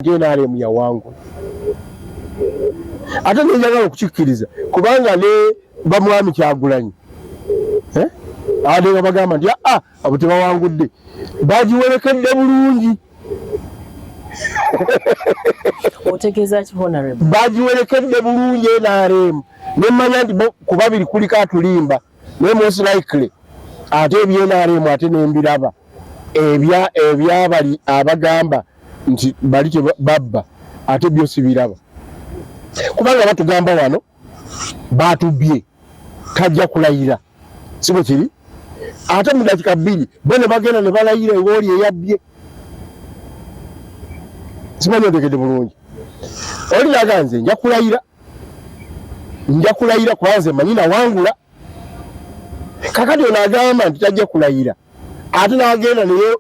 nrm yawangula ate nenjagala okukikkiriza kubanga ne bamwami kyagulanyi eh? ade nga bagamba nti aa ah, ah, abo tebawangudde bagiwerekedde bulungi bagiwerekedde bulungi nrm nemanya nti kubabiri kuliko atulimba naye most likely ate ebyenaremu ate nembiraba ebyabali abagamba nti bali tebabba ate byo sibiraba kubanga batugamba wano batubye tajja kulayira sibo kiri ate mu dakika bbiri bo ne bagenda ne balayira ewooli eyabbye simanyi otegede bulungi olinaga nze nja kulayira nja kulayira kwanze manyi nawangula kakati ono agamba nti tajja kulayira ate nagenda naye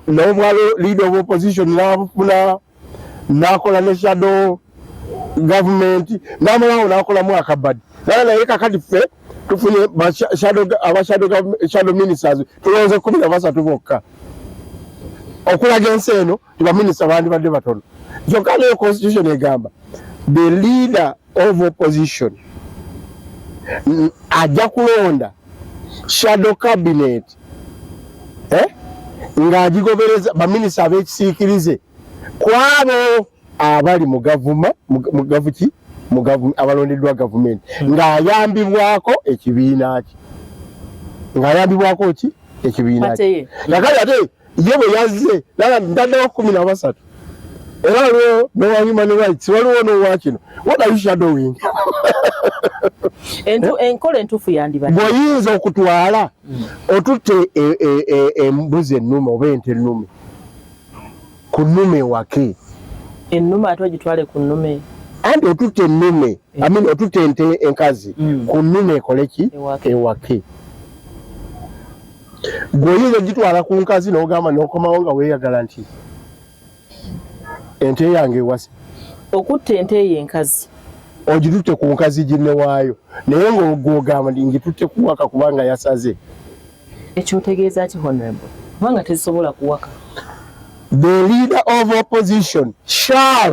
nobwalo leader of opposition nabufuna nakola ne shadow government namalawo nakola mwaka badi naye naye kakati ffe tufunye abashadow ministers tulonze kumi na basatu bokka okulaga ensi eno nti baminisita bandibadde batono kyokka nayo constitution egamba the leader of opposition ajja kulonda shadow cabinet eh? ng'agigobereza baminisita ab'ekisiikirize ku abo abali mu gavuma mu gavuki abalondeddwa gavumenti hmm. ng'ayambibwako ekibiina kye ng'ayambibwako ki ekibiina kye kakati ate ye bwe yazze nala ndaddawo kumi na basatu era waliwo nowa human rights waliwo nowa kino what are you shadowing enkola entuufu yandibadde bw'oyinza okutwala mm. otutte e, e, e, embuzi ennume oba ente ennume ku nnume ewake ennume ate ogitwale ku nnume anti otutte ennume eh. amin otutte ente enkazi mm. ku nnume ekoleki ewake gwe oyinza ogitwala ku nkazi nogamba nokomawo nga weyagala nti ente yange ewase okutta ente eyo enkazi ogitutte ku nkazi ginewaayo naye ngaogwogamba ndi ngitutte kuwaka kubanga yasaze ekyotegeeza ki honorable kubanga tezisobola kuwaka the leader of opposition shall